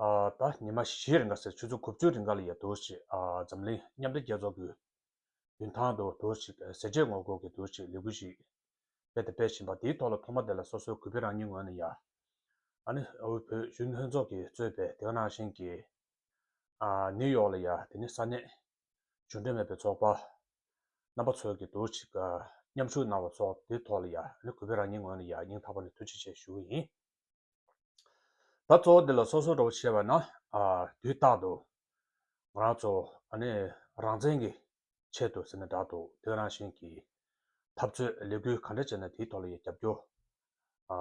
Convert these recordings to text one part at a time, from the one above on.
ད་ཉི་མ་བཞིའི་རིང་ག་ཟེར་ཆུ་ཚོད་དགུ་བཅུའི་རིང་ག་ལ་ཡོད་འདུག་ཅེས་འཛམ་གླིང་མཉམ་འབྲེལ་རྒྱལ་ཚོགས་ཀྱི་མདུན་ཐང་དུ་འདུག་ཅེས་ཟས་བཅད་ངོ་རྒོལ་གྱི་འདུག་ཅེས་ལས་འགུལ་ཞིག་རྦད་དེ་སྤེལ་བཞིན་པ་དེའི་ཐོག་ལ་ཐོག་མ་དེ་ལ་སོ་སོའི་གུས་པས་རང་ཉིད་ངོས་ནས་ཡ་ཨ་ནི་དབུས་བོད་བཞུགས་ལྷན་ཚོགས་ཀྱིས་གཙོས་པའི་དེ་ག་ནང་བཞིན་གྱི་ནིའུ་ཡོག་ལ་ཡ་དེ་ནི་ས་གནས་གཞུང་འབྲེལ་མེད་པའི་ཚོགས་པ་རྣམ་པ་ཚོས་ཀྱི་འདུག་ཅེས་མཉམ་ཞུགས་གནང་བ་སོགས་དེའི་ཐོག་ལ་ཡ་ཨ་ནི་གུས་པས་རང་ཉིད་ངོས་ནས་ཡ་སྙིང་ཐག་པ་ནས་ཐུགས་རྗེ་ཆེ་ཞུ་གི་ཡིན། ད་གཙོ་བོ་དེ་ལ་སོ་སོར་གྲོགས་བྱེད་པ་ན་དུས་རྟག་ཏུ་ང་རང་ཚོ་རང་བཙན་གྱི་ཆེད་དུ་ཟེར་ནས་བསྒྲགས་འདུག་དོན་རང་བཞིན་གྱི་འཐབ་རྩོད་ལས་འགུལ་ག་འདྲ་བྱས་ན་དེའི་ཐོག་ལ་ཡང་རྒྱབ་སྐྱོར་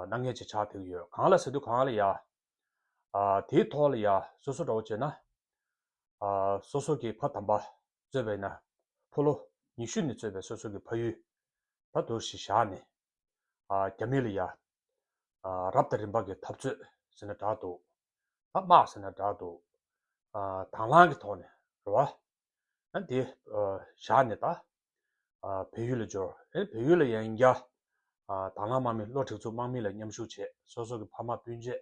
ནག་ཉེས་ཅིག་ཆགས་ཐུག་གི་ཡོད་གང་ལ་ཟེར་དུས་གང་ལ་ཡ་དེའི་ཐོག་ལ་ཡ་སོ་སོར་གྲོགས་བྱས་ན་སོ་སོ་གྱི་ཕ་དམ་པ་གཙོས་པའི་ན་ཕོ་ལོ་ཉི་ཤུ་ནས་གཙོས་པའི་སོ་སོ་གྱི་ཕ་ཡུལ་ད་དོར་ཞིག་བཞག་ནས་རྒྱ་མི་ལ་ཡ། རབ་དང་རིམ་པ་གི་འཐབ་རྩོད་ཟེར་ན་དྲག་འདུག། ཐ་མག་ཟེར་ན་དྲག་འདུག། དྭང་བླང་གི་ཐོག་ནས་རེད་བ། ཨ་དེ་བཞག་ནས་ད། བོད་ཡུལ་ལ་འབྱོར། ཨེ་བོད་ཡུལ་ལ་ཡ་ཡིན་རྒྱ། དྭང་བླང་དམག་མི་བློ་འཁྲེགས་ཚུལ་དམག་མི་ལ་མཉམ་ཞུགས་བྱས་སོ་སོ་གི་ཕ་མ་སྤུན་མཆེད་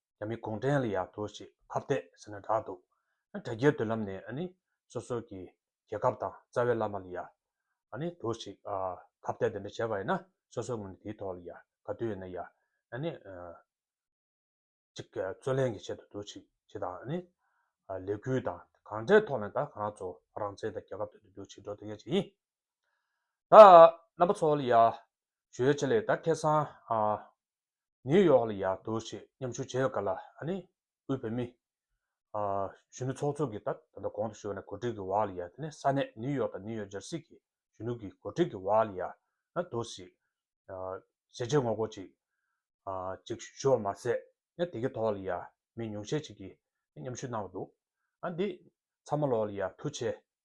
རྒྱ་མི་གུང་ཁྲན་ལ་ཡག་ཐུག་ཞིག་ཕར་བལྟས་ཟེར་ན་དྲག་འདུག་ཨ་དྲ་རྒྱའི་མདུན་ལམ་ནས་ཨ་ནི་སོ་སོ་གི་རྒྱལ་ཁབ་དང་རྩ་བའི་བླ་མ་ལ་ཡག་ཨ་ནི་ཐུག་ཞིག་ཕར་བལྟས་དེ་འདྲ་བྱས་པ་ཡིན་ན་སོ་སོ་ངོས་ནས་དེའི་ཐོག་ལ་ཡག་ག་དུས་ཡིན་ན་ཡག་ཨ་ནི་གཅིག་རྩོད་ལེན་གི་ཆེད་དུ་ཐུག་ཞིག་ཞེས་དང་ཨ་ནི་ལས་འགུལ་དང་གང་འདྲའི་ཐོག་ནས་ད་གང་ང་ཚོ་རང་བཙན་དང་རྒྱལ་ཁབ་དོན་དུ་འདུག་ཞིག་འགྲོ་ཐུབ་མཁན་ཞིག་ཡིན་ད་རྣམ་པ་ཚོ་ལ་ཡག་ཞོལ་ཆེ་ལས་ད་ཁེ་སང་ནིའུ་ཡོག་ལ་ཡར་ལྟོས་ཆེད་མཉམ་ཞུགས་བྱས་ཡོད་ཀ་ལ་ཨ་ནི་དབུས་བོད་མི། གཞོན་ནུ་ཚོགས་གཙོ་གིས་ད་ད་ལྟ་གོང་དུ་ཞུས་པ་ན་གོ་སྒྲིག་གི་བ་ལ་ཡར་དེ་ནི་ས་གནས་ནིའུ་ཡོག་དང་ནིའུ་ཡོག་ཇར་སི་གི་གཞོན་ནུ་གིས་གོ་སྒྲིག་གི་བ་ལ་ཡར་ལྟོས་ཆེད་ཞལ་ལྕེ་ངོ་རྒོལ་ཅིག་ཅིག་ཞུ་བ་མ་ཟད་ཡང་དེ་གི་ཐོག་ལ་ཡར་མི་ཉུང་ཤས་ཅིག་གིས་མཉམ་ཞུགས་གནང་བ་འདུག་ཨ་འདི་ཚང་མ་ལོག་ལ་ཡར་ཐུག་ཆེད་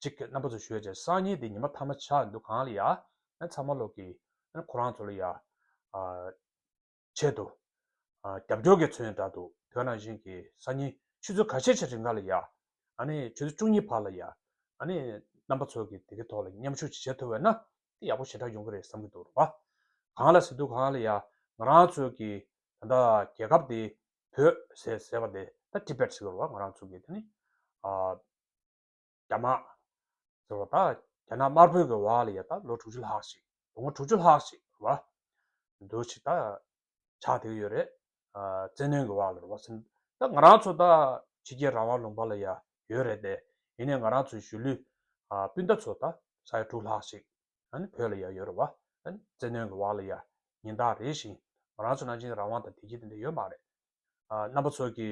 གཅིག་གི་རྣམ་པ་ཚོ་ཞོས་ཅིག་སང་ཉིན་དེ་ཉི་མ་ཐ་མ་ཆག་འདུག་གང་ལ་ཡ་ཚང་མ་ལོག་གི་ཁོ་རང་ཚོ་ལ་ཡ་ཆད་འདུག་རྒྱབ་སྐྱོར་གི་ཚོས་འདྲ་འདུག་དོན་རང་བཞིན་གི་སང་ཉིན་ཆུ་ཚོད་ག་ཤེད་ཆག་རིང་ག་ལ་ཡ་ཆུ་ཚོད་བཅུ་གཉིས་བར་ལ་ཡ་རྣམ་པ་ཚོ་གི་དེ་གི་ཐོག་ལ་མཉམ་ཞུགས་ཅིག་བྱེད་ཐུབ་བས་ན་དེ་ཡག་པོ་ཞེ་དྲག་ཡོང་གི་རེད་བསམ་གི་འདུག་རོགས་པ་གང་ལ་ཟེར་དུས་གང་ལ་ཡ་ང་རང་ཚོ་གི་ད་ལྟ་རྒྱལ་ཁབ་དེ་བོད་ཟེར་བ་དེ་ད Tibet ཟེར་གི་རོགས་པ་ང་རང་ཚོ་གི་དེ་ནི་རྒྱ་དམག་ཟེར་བ་ད་རྒྱ་ནག་དམར་པོའི་གི་བ་ལ་ཡ་ད་ལོ་དྲུག་ཅུ་ལྷག་ཞིག་ལོ་ངོ་དྲུག་ཅུ་ལྷག་ཞིག་ར་བ་འདུག་ཆིག་ད་ཆག་དེ་གི་ཡོད་རེད་ཨ་བཙན་གནོན་གི་བ་ལ་ར་བ་སེམས་ད་ང་རང་ཚོ་ད་ཕྱི་རྒྱལ་རང་དབང་ལུང་པ་ལ་ཡ་ཡོད་རེད་དེ་ཡིན་ནའི་ང་རང་ཚོའི་གཞུས་ལུས་ཨ་སྤུན་ད་ཚོ་ད་ས་ཡ་དྲུག་ལྷག་ཞིག་ཨ་ནི་བོད་ལ་ཡ་ཡོད་ར་བ་ཨ་བཙན་གནོན་གི་བ་ལ་ཡ་ཉིན་ད་རེ་བཞིན་ང་རང་ཚོ་ནང་བཞིན་རང་དབང་དང་དེ་གྱི་དེ་འདྲ་ཡོད་མ་རེད་ཨ་རྣམ་པ་ཚོ་གི་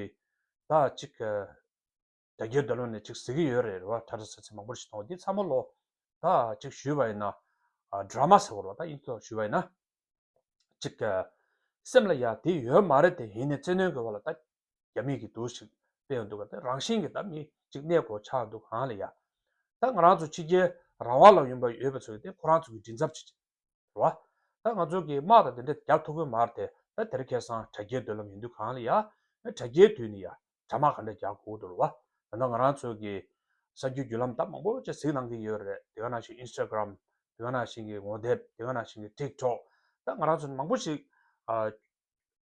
ད་ཅིག་རྒྱ་ཁྱོད་ད་ལོ་ནས་ཅིག་ཟེར་གི་ཡོད་རེད་རེད་བ་ཁྲ་ཁྲ་ཟེར་ཚེ་མང་པོར་ཞིག་གཏོང་བ་དེ་ཚ་མོ་ལོ་ད་ཅིག་ཞུས་བ་ཡིན་ན Drama ཟེར་བར་བ་ད་ཡིན་ཐོག་ཞུས་བ་ཡིན་ན་ཅིག་ག་སེམས་ལ་ཡ་དེ་ཡོད་མ་རེད་དེ་ཡིན་ནས་བཙན་གནོན་དགོས་བ་ལ་ད་རྒྱ་མིས་གི་དུ་ཞིག་སྤེལ་ཡང་འདུག་ག་ད་རང་བཞིན་གི་ད་མི་ཅིག་གནས་གོ་ཆག་འདུག་ག་ཧང་ལ་ཡ། ད་ང་རང་ཚོ་ཕྱི་རྒྱལ་རང་བ་ལ་ཡོང་བ་ཡོད་པ་ཚོ་ཡིན་ཏེ་ཁོ་རང་ཚོ་གི་མགྲིན་ཚབ་བྱེད་ཅིག་རོ། ད་ང་ཚོ་གིས་དམག་དང་དེ་འདྲ་རྒྱག་ཐུབ་ཀི་མ་རེད་དེ། ད་དེར་ཁེ་སང་དྲ་རྒྱའི་སྡོད་ལམ་ཡིན་དུས་གང་ལ་ཡག། དྲ་རྒྱའི་དུས་ནི་ཡག། དྲ་དམག་ག་འདྲ་རྒྱག་དགོས་ཨོ་དོ་རོ། ད་ང་རང་ཚོ་གིས་གསར་འགྱུར་བརྒྱུད་ལམ་ད་མང་པོ་ཅིག་གཟིགས་གནང་གི་ཡོད་རེད་དེ། ག་ནང་བཞིན Instagram། དེ་ག་ནང་བཞིན་གྱི་ངོ་དེབ། དེ་ག་ནང་བཞིན་གྱི Tik Tok། ད་ང་རང་ཚོ་མང་པོ་ཞིག།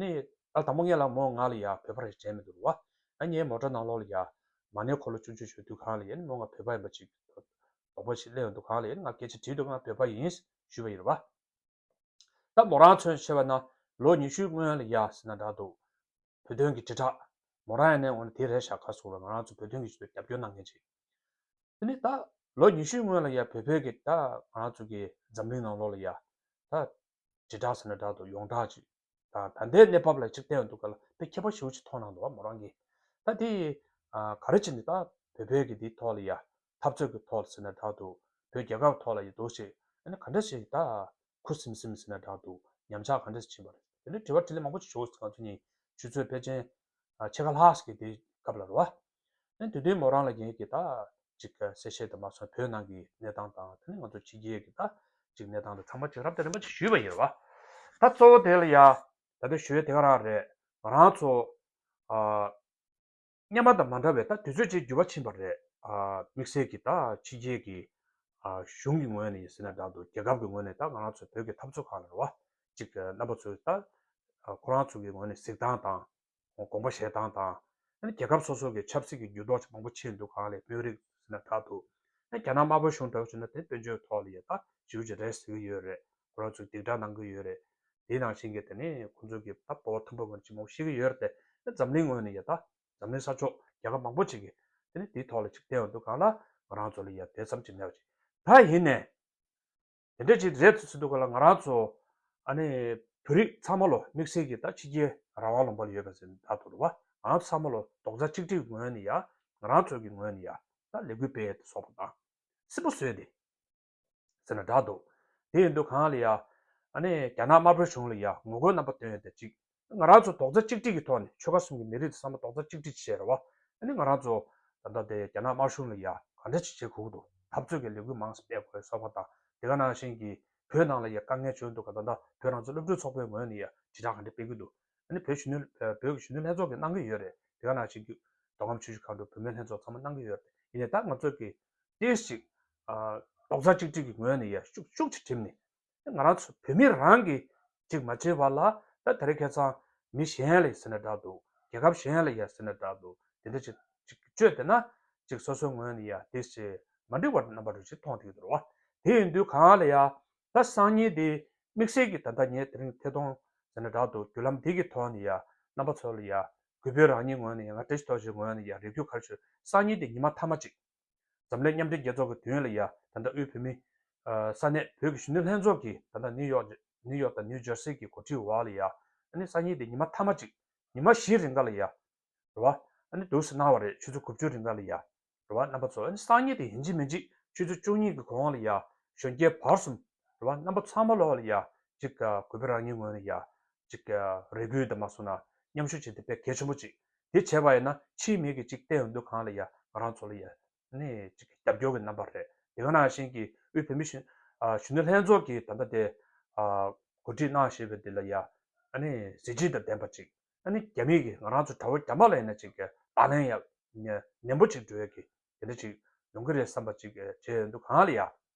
ནི། ཨ་དང་པོ་ངས་ལ་མོ་ང་ལ་ཡ་བོད་པ་རེད་དྲན་མི་འདུག་བ། ཨ་ངས་མོ་དྲ་ནང་ལོག་ལ་ཡ། མ་ནས་འཁོར་ལོ་བཅུ་བཅུ་ཞོ་དུད་ཁང་ལ་ཡ་ནི་མོ་ང་བོད་པ་ཡིན་པ་ཅིག། དོག་པ་ཞིག་གླེང་ཡོང་དུད་ཁང་ལ་ཡ་ནི་ང་སྐད་ཆ་དྲིས་འདུག་ང་བོད་པ་ཡིན། ཞུས་པ་ཡིན་བ། ད་མོ་རང་མཚོན་ཆེ་བ་ན། ལོ་ཉི་ཤུའི་སྔོན་ལ་ཡ་ཟེར་ན་འདྲ་འདུག། བོད་དོན་གྱི་དྲིལ་བསྒྲགས། མོ་རང་ཡ་ནས་འོ་ན་དེ་རེད་ཤག་ག་སོང་བས་ང་རང་ཚོ་བོད་དོན་གྱི་ཆེད་དུ་རྒྱབ་སྐྱོར་གནང་མཁན་ཅིག། དེ་ནི། ད། ལོ་ཉི་ཤུའི་སྔོན་ལ་ཡ་བོད་བོད་ཀྱི་ད། ང་རང་ཚོ་གི་འཛམ་གླིང་ནང་ལོག་ལ་ཡ། ད། དྲིལ་བསྒྲགས་ཟེར་ན་བསྒྲགས་འདུག་ཡོངས་བསྒྲགས་ཅིག་དང་ད་ལྟའི་གནས་བབ་ལ་ཅིག་བལྟས་འདུག་ག་ལ་དེ་ཁྱད་པར་ཞིག་ཅིག་མཐོང་གནང་འདུག་མོ་རང་གིས་ད་དེ་ག་རེ་བྱེད་འདི་ད་བོད་པའི་གི་དེའི་ཐོག་ལ་ཡ་འཐབ་རྩོད་གི་ཐོག་ལ་ཟེར་ན་བསྒྲགས་འདུག་བོད་རྒྱལ་ཁབ་ཐོག་ལ་ཡ་འདུག་ཞིག་ཨ་ནི་ག་འདྲ་ཞིག་ད་ཁུ་སིམ་སིམ་ཟེར་ན་བསྒྲགས་འདུག་ཉམས་ཆག་ག་འདྲ་ཞིག་ཕྱིན་པ་རེད་དེ་འདྲའི་དྲི་བ་དྲིས་ལན་མང་པོ་ཅིག་ཞུ་ང་ཚོ་གཉིས་ཆུ་ཚོད་ཕལ་ཆེན་ཕྱེད་ཀ་ལྷག་ཟིག་གི་དེའི་སྐབས་ལ་རོ་ཨ་ཨེ། དེ་དུས་མོ་རང་ལ་རྒྱན་གྱི་ད། ཅིག་ག་གསལ་བཤད་དུ་མ་སོང་བོད་ནང་གི་གནས་སྟངས་དང་དེ་ནས་ང་ཚོ་ཕྱི་རྒྱལ་གྱི་ད། ཅིག་གནས་སྟངས་དེ་ཚང་མ་ཅིག་རབ་དང་རིམ་པ་ཅིག་ཞུས་པ་ཡིན། ད་གཙོ་བོ་དེ་ལ་ཡ། ད་དེ་ཞུས་དེ་ག་རང་རེད། ང་རང་ཚོ། ཨ། སྙན་པ་དང་མ་འདྲ་བའི་ད་དུས་ཚོད་ཅིག་འགྱུར་བ་ཕྱིན་པ་རེད། ཨ། དམིགས་བསལ་གྱི་ད་ཕྱི་རྒྱལ་གྱི། ཨ། གཞུང་གི་ངོས་ནས་ཡིན་ཟེར་ན་འདྲ་འདུག་རྒྱལ་ཁབ་གྱི་ངོས་ནས་ད་ང་རང་ཚོ་བོད་ཀྱི་འཐབ་རྩོད་ཁང་ལ་རེད་བ། ཅིག་གི་རྣམ་པ་ཚོས་ད། ཨ། ཁོ་རང་ཚོ་གྱི་ངོས་ནས་གཟིགས་སྟངས་དང། དགོངས་པ་བཞེས་སྟངས་དང། རྒྱལ་ཁབ་སོ་སོ་གི་ཆབ་སྲིད་ཀྱི་འགྱུར་ལྡོག་ཆེ་མང་པོ་ཕྱིན་འདུག་གང་ལས་དཔོན་རིགས་ཟེར་ན་དྲག་འདུག། རྒྱ་ནག་དམར་པོ་གཞུང་དྲག་ཆུ་ན་དེ་དཔོན་ཆོས་ཐོག་ལ་ཡོད་ཐག་ཇུ་ཇི་རེད་ཟེར་གྱི་ཡོད་རེད་ཁོ་རང་ཚོས་སྡིག་དྲག་གནང་གི་ཡོད་རེད། དེའི་ནང་བཞིན་གྱི་དེ་ནས་ཁོང་ཚོས་གི་ད་གོ་བ་མཐོན་པོ་མེད་རེད་ཅི་མང་པོ་ཤེས་གི་ཡོད་རེད་དེ་འཛམ་གླིང་ངོས་ནས་ཡོད་ཐག་འཛམ་གླིང་ས་ཕྱོགས་རྒྱལ་ཁབ་མང་པོ་ཅིག་གི་དེ་ནས་དེའི་ཐོག་ལ་ཅིག་བལྟས་འོང་དུ་གང་ལ་ང་རང་ཚོ་ལ་ཡ་དེ་ཙམ་ཅིག་མེད་པ་ཅིག་ད་ཡིན་ནས། དེ་འདྲས་ཅིག་མཛད་ཟིན་འདུག་ག་ལ་ང་རང་ཚོ་ཨ་ནི་བོད་རིགས་ཚང་མ་ལོ་དམིགས་བསལ་གྱི་ད་ཕྱི་རྒྱལ་རང་དབང་ལོངས་པར་ཡོད་པ་ཟིན་ད་དུར་བ་ང་རང་ཚང་མ་ལོ་རྡོག་རྩ་གཅིག་སྒྲིལ་ངོས་ནས་ཡ་ང་རང་ཚོ་གི་ངོས་ནས་ཡ་ད་ལས་འགུལ་སྤེལ་ཏེ་སོག་པོ་དང་སིལ་པོ་བཟོས་ཏེ་ཟེར་ན་དྲག་འདུག་དེ་ཡིན་དུས་གང་ལ་ཡ་ཨ་ནི་རྒྱ་ནག་དམར་པོའི་གཞུང་ལ་ཡ་ངོ་རྒོལ་རྣམ་པ་བཏོན་ཏེ་ཅིག་ང་རང་ཚོ་རྡོག་རྩ་གཅིག་སྒྲིལ་གྱི་ཐོག་ནས་ཆོལ་ཁ་གསུམ་གྱི་མི་རིགས་དང་བསམ་བློ་རྡོག་རྩ་གཅིག་སྒྲིལ་བྱེད་ར་བ། ད་ནི་ང་རང་ཚོ། ད་ལྟ་དེ་རྒྱ་ནག་དམར་གཞུང་ལ་ཡང་ག་འདྲ་ཅིག་བྱེད་ཁུག་འདུག་འཐབ་རྩོད་ཀྱི་ལས་འགུལ་མང་སྤེལ་དགོས་ས་བ་དང་དེ་ག་ནང་བཞིན་གྱི་བོད་ནང་ལ་ཡང་དཀའ་ངལ་བྱུང་འདུག་ག་ད་ལྟ་བོད་རང་བཙན་སློབ་ཕྲུག་ཚོགས་པའི་ངོས་ནས་ཡང་དྲིལ་བསྒྲགས་ག་འདྲ་སྤེལ་གྱི་འདུག་ད་ནི་བོད་གཞོན་ནུ་བོད་ཀྱི་གཞོན་ནུ་ལྷན་ཚོགས་ཀྱི་གནང་གི་ཡོད་རེད་དེ་ག་ནང་བཞིན་གྱི་མདོ་ཁམས་ཆུ་བཞི་མཁའ་འགྲོའི་བུད་མེད་ལྷན་ཚོགས་ཚང་མ་གནང་གི་ཡོད་རེད་ཡིན་ནའི་ད་ང་ཚོ་གིས་ཏེས་ཅིག། རྡོག་རྩ་གཅིག་སྒྲིལ་གྱི་ངོས་ནས་ཡང་ཤུགས་ཆེ་བྲིམས་ནས་ང་རང་ཚོ་བོད་མི་རང་གིས་གཅིག་མ་བྱས་པར་ལ་ད་དེ་རིང་ཁེ་ཚང་མི་གཞན་ལས་ཟེར་ནས་བསྒྲགས་འདུག་རྒྱལ་ཁབ་གཞན་ལས་ཡ་ཟེར་ནས་བསྒྲགས་འདུག་དེ་འདྲ་ཅིག་ཅིག་བཅོས་བསྡད་ན་ཅིག་སོ་སོའི་ངོས་ནས་ཡ་འདི་ཞེས་མ་འདྲི་བར་རྣམ་པ་རེ་ཞིག་མཐོང་ཐེངས་དུ་རུང་བ་དེ་ཡིན་དུས་གང་ལ་ཡ་ད་སང་ཉིན་འདི་དམིགས་བསལ་གྱིས་ད་ལྟ་ངས་དེ་རིང་ཐད་གཏོང་ཟེར་ནས་བསྒྲགས་འདུག་བརྒྱུད་ལམ་འདི་གི་ཐོག་ནས་ཡ་རྣམ་པ་ཚོ་ལ་ཡ་གུས་པོས་རང་ཉིད་ངོས་ནས་ཡ་ང་བཀྲ་ཤིས་རྟོགས་བཞེས་ངོས་ནས་ཡ་རེ་བརྒྱུད་ཁར་ཆོད་སང་ཉིན་འདི་ཉི་མ་མཐའ་མ་ཅིག། འཛམ་གླིང་མཉམ་འབྲེལ་རྒྱལ་ཚོགས་ཀྱི་དུས་ཡུན་ལ་ཡ་ད་ནྡ་དབུས་བོད་མི། ས་གནས་བོད་ཀྱི་གཞོན་ནུ་ལྷན་ཚོགས་ཀྱིས་ད་ནྡ་ནིའུ་ཡོག་ནིའུ་ཡོག་དང་ནིའུ་ཇར་སི་གི་གོ་ཁྲིའི་བར་ལ་ཡ་ད་ནི་སང་ཉིན་ཏེ་ཉི་མ་ཐ་མ་གཅིག་ཉི་མ་བཞིའི་རིང་ག་ལ་ཡ་ར་བ་ད་ནི་དུས་སུ་གནང་བ་རེད་ཆུ་ཚོད་དགུ་བཅུའི་རིང་ག་ལ་ཡ་ར་བ་རྣམ་པ་ཚོ་ད་ནི་སང་ཉིན་ཏེ་ཡིན་གཅིག་མིན་གཅིག་ཆུ་ཚོད་བཅུ་གཉིས་ཀྱི་གོང་ག་ལ་ཡ་གཞོན་སྐྱེས་བར་གསུམ་ར་བ་རྣམ་པ་ཚང་མ་ལོག་ག་ལ་ཡ་གཅིག་གུས་པས་རང་ཉིད་ངོས་ནས་ཡ་གཅིག་རེ་སྒུག་ད་མ་སོང་ན་མཉམ་ཞུགས་བྱེད་དེ་དཔེ་གལ་ཆེན་པོ་གཅིག་དེ་བྱས་པ་ཡིན་ན་ཕྱིའི་མི་གིས་ཅིག་བལྟས་འོས་འདུག་གང་ལ་ཡ་ང་རང་ཚོ་ལ་ཡ་ནི་ཅིག་རྒྱབ་སྐྱོར་གི་རྣམ་པ་རེད་དེ་ག་ནང་བཞིན་གྱི་དབུས་བོད་མི་གཞོན་ནུ་ལྷན་ཚོགས་ཀྱི་ད་ལྟ་དེ་གོ་སྒྲིག་གནང་བཞེས་པའི་དེ་ལ་ཡ་ནི་གཟི་བརྗིད་དང་ལྡན་པ་ཅིག་ཡ་ནི་རྒྱ་མི་གིས་ང་རང་ཚོ་དགྲ་བོ་རྒྱ་དམག་ལ་ཡིན་ན་ཅིག་དང་ལེན་ཡ་ནན་པོ་ཅིག་འགྲོ་འོས་ཀྱི་དེ་འདྲ་ཅིག་ཡོང་གི་རེད་བསམ་པ་ཅིག་བྱས་འོས་འདུག་གང་ལ་ཡ།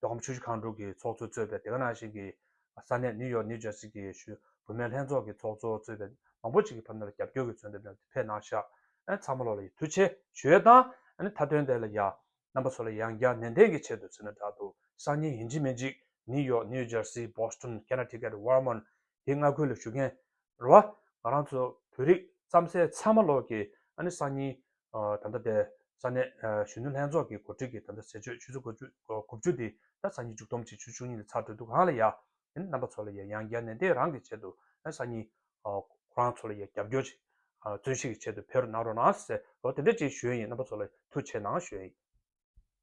རྡོ་ཁམས་ཆུ་བཞི་ཁང་དྲུག་གི་ཚོགས་གཙོས་གཙོས་པའི་དེ་ག་ནང་བཞིན་གྱི་ས་གནས་ནིའུ་ཡོག་ནིའུ་ཇར་སི་གི་བུད་མེད་ལྷན་ཚོགས་ཀྱི་ཚོགས་གཙོ་གཙོས་པའི་མང་པོ་ཅིག་གིས་ཕབ་ནོར་ལ་རྒྱབ་སྐྱོར་གྱི་མཚོན་དོན་བཏོན་ཕེབས་གནང་ཤག་ཚང་མ་ལོག་ལ་ཡི་ཐུགས་ཆེ་ཞུས་དང་མཐའ་དོན་དེ་ལ་ཡང་རྣམ་པ་ཚོ་ལ་ཡང་བསྐྱར་ནན་ཏན་གྱི་ཆེད་དུ་མཚོན་ན་དྲག་ཏུ་སང་ཉིན་ཡིན་གཅིག་མིན་གཅིག་ནིའུ་ཡོག་ནིའུ་ཇར་སི་བྷོ་སི་ཏོན་ཀེ་ན་ཏི་ཀེ་ཏི་ཝར་མོན་དེ་སྔ་ཁུལ་ལ་ཞུགས་མཁན་རུ་བ་ང་རང་ཚོ་བོད་རིགས་རྩམ་ཟས་ཚང་མ་ལོག་གི་ཨ་ནི་སང་ཉིན་ད་ལྟ་དེ་ས་གནས་གཞོན་ནུ་ལྷན་ཚོགས་ཀྱི་གོ་སྒྲིག་གིས་ད་ལྟ་ཟས་སྤྱོད་ཆུ་ཚོད་དགུ་བཅུ་དེ་ད་ས་ཉིན་མཇུག་སྡོམ་བྱེད་ཆུ་བཅུ་གཉིས་ལ་ཚར་དུས་འདུག་གང་ལ་ཡ་དེ་ནི་རྣམ་པ་ཚོ་ལ་ཡ་ཡང་བརྒྱ་ནས་དེ་རང་གི་ཆེད་དུ་ཨ་ནི་ས་ཉིན་ཁོ་རང་ཚོ་ལ་ཡ་རྒྱབ་སྐྱོར་བྱེད་བརྩོན་ཤིག་གི་ཆེད་དུ་ཕེ་རུ་གནང་རོགས་གནང་ཟེར་རོ་དེ་འདྲ་ཅིག་ཞུ་ཡི་ཡིན་རྣམ་པ་ཚོ་ལ་ཐུགས་ཆེ་གནང་ཞུ་ཡི་ཡིན།